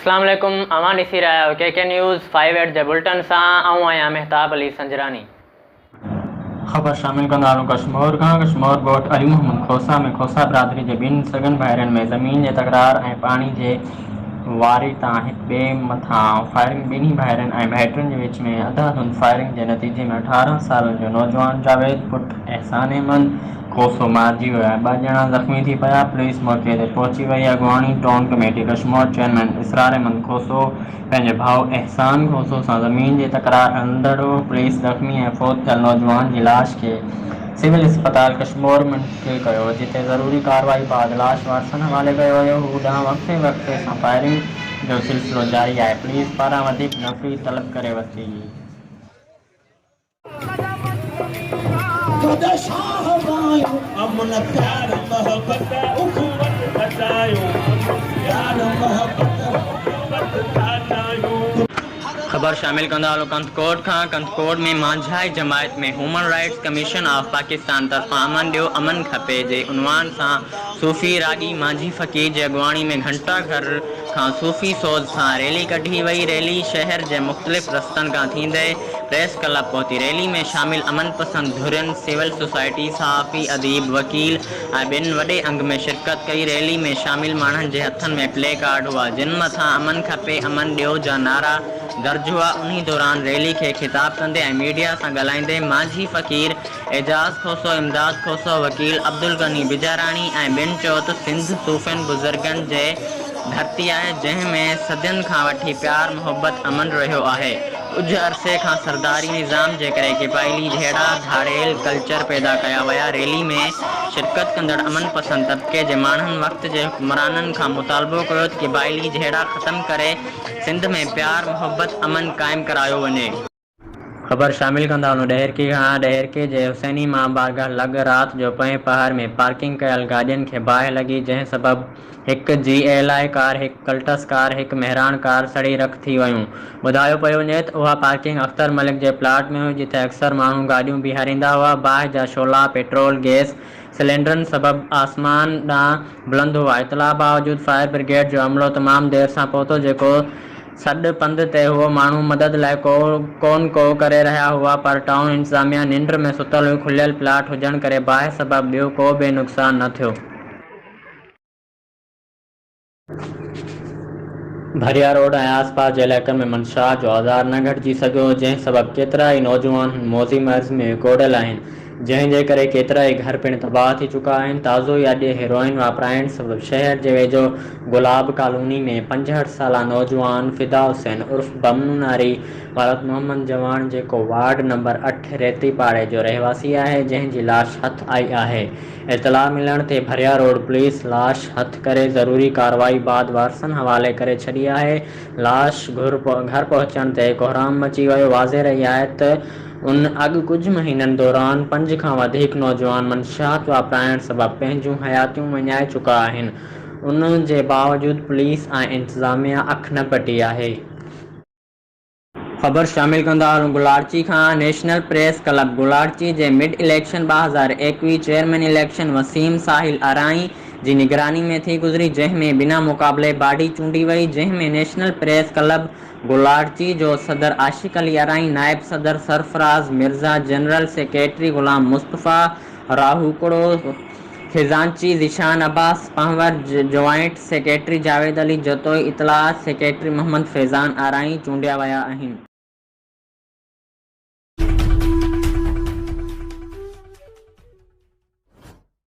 اسلام عليڪم اوهان ڏسي رهيا آهيو K K news five eight جي بلٽن سان آئون آهيان مهتاب علي سنجراني. خبر شامل ڪندارون ڪشمور کان ڪشمور ڳوٺ علي محمد کوسا ۾ کوسا برادري جي ٻن سڳن ڀائرن ۾ زمين جي تڪرار ۽ پاڻي جي واري تان هڪ ٻئي مٿان فائرنگ ٻنهي ڀائرن ۽ ڀائٽين جي وچ ۾ اڌاڌند فائرنگ جي نتيجي ۾ اٺارهن سالن جو نوجوان جاويد پٽ احسان احمد کوسو مارجي ويو آهي، ٻه ڄڻا زخمي ٿي پيا، پوليس موقعي تي پهچي وئي، اڳواڻي town committee Kashmore chairman Israr Ahmed Khoso پنهنجي ڀاء احسان کوسو سان زمين جي تڪرار هڻندڙ هو، پوليس زخمي ۽ فوت ٿيل نوجوان جي لاش کي سول اسپتال ڪشمور منتقل ڪيو، جتي ضروري ڪارروائي بعد لاش وارثن حوالي ڪيو ويو، هو ڏانهن وقفي وقفي سان فائرنگ جو سلسلو جاري آهي، پوليس پاران وڌيڪ نفري طلب ڪري ورتي. خود شاھ وايون امن پيار محبت اخوت سچايون امن پيار محبت اخوت سچايون. خبر شامل ڪندا هلون ڪنڌڪوٽ کان ڪنڌڪوٽ ۾ مانجهائي جماعت ۾ human rights commission of Pakistan طرفان امن ڏيو امن کپي جي عنوان سان صوفي راڳي مانجهي فقير جي اڳواڻي ۾ گهنٽا گهر کان صوفي سوز سان ريلي ڪڍي وئي ريلي شهر جي مختلف رستن کان ٿيندي پريس ڪلب پهتي ريلي ۾ شامل امن پسند ڌرين، سول سوسائٽي، صحافي، اديب، وڪيل ۽ ٻين وڏي انگ ۾ شرڪت ڪئي، ريلي ۾ شامل ماڻهن جي هٿن ۾ پلي ڪارڊ هئا جن مٿان امن کپي امن ڏيو جا نعرا درج هئا، انهي دوران ريلي کي خطاب ڪندي ۽ ميڊيا سان ڳالهائيندي مانجهي فقير اعجاز کوسو، امداد کوسو، وڪيل عبدالغني بجاراڻي ۽ ٻين چيو ته سنڌ صوفين بزرگن جي ڌرتي آهي جنهن ۾ صدين کان وٺي پيار محبت امن رهيو آهي ڪجهه عرصي کان سرداري نظام جي ڪري قبائلي جهيڙا ڌاڙيل ڪلچر پيدا ڪيا ويا ريلي ۾ شرڪت ڪندڙ امن پسند طبقي جي ماڻهن وقت جي حڪمرانن کان مطالبو ڪيو ته قبائلي جهيڙا ختم ڪري سنڌ ۾ پيار محبت امن قائم ڪرايو وڃي. خبر شامل ڪندا هلون ڏهرڪي کان ڏهرڪي جي حسيني مان بارگاهه لڳ رات جو پئين پهر ۾ پارڪنگ ڪيل گاڏين کي باهه لڳي جنهن سبب هڪ جي ايل آء ڪار هڪ ڪلٽس ڪار هڪ مهراڻ ڪار سڙي رک ٿي ويون ٻڌايو پيو وڃي ته اها پارڪنگ اختر ملڪ جي پلاٽ ۾ هئي جتي اڪثر ماڻهو گاڏيون بيهاريندا هئا باهه جا شعلا پيٽرول گيس سلينڊرن سبب آسمان ڏانهن بلند هئا اطلاع باوجود فائر برگيڊ جو عملو تمام دير سان پهتو جيڪو سڏ پنڌ تي هئو، ماڻهو مدد لاء ڪو ڪون ڪو ڪري رهيا هئا پر ٽائون انتظاميه ننڊ ۾ ستل هئي، کليل پلاٽ هجڻ ڪري باهه سبب ٻيو ڪو به نقصان نه ٿيو. ڀريا روڊ ۽ آس پاس جي علائقن ۾ منشيات جو آزار نه گهٽجي سگهيو، جنهن سبب ڪيترائي نوجوان موذي مرض ۾ ڪوڙيل آهن، جنهن جي ڪري ڪيترائي گهر پڻ تباهه ٿي چڪا آهن، تازو ئي اڄ هيروئن واپرائڻ سبب شهر جي ويجهو گلاب ڪالوني ۾ پنجهٺ سالا نوجوان فدا حسين عرف بم نوناري ولد محمد جواڻ جيڪو وارڊ نمبر اٺ ريتي پاڙي جو رهواسي آهي جنهن جي لاش هٿ آئي آهي اطلاع ملڻ تي ڀريا روڊ پوليس لاش هٿ ڪري ضروري ڪاروائي بعد وارثن حوالي ڪري ڇڏي آهي لاش گهر پهچڻ تي ڪهرام مچي ويو واضح رهي آهي ته هن اڳ ڪجهه مهينن دوران پنج کان وڌيڪ نوجوان منشيات واپرائڻ سبب پنهنجون حياتيون وڃائي چڪا آهن، ان جي باوجود پوليس ۽ انتظاميا اک نه پٽي آهي. خبر شامل ڪندارون گولاڙچي کان نيشنل پريس ڪلب گولاڙچي جي مڊ اليڪشن ٻه هزار ايڪويهه چيئرمين اليڪشن وسيم ساحل ارائين جي نگراني ۾ ٿي گذري جنهن ۾ بنا مقابلي باڊي چونڊي وئي جنهن ۾ نيشنل پريس ڪلب گلارچي جو صدر عاشق علي ارائين، نائب صدر سرفراز مرزا، جنرل سيڪريٽري غلام مصطفيٰ راهوڪڙو، خزانچي ذيشان عباس پنهور، جوائنٽ سيڪريٽري جاويد علي جتوئي، اطلاعات سيڪريٽري محمد فيضان ارائين چونڊيا ويا آهن.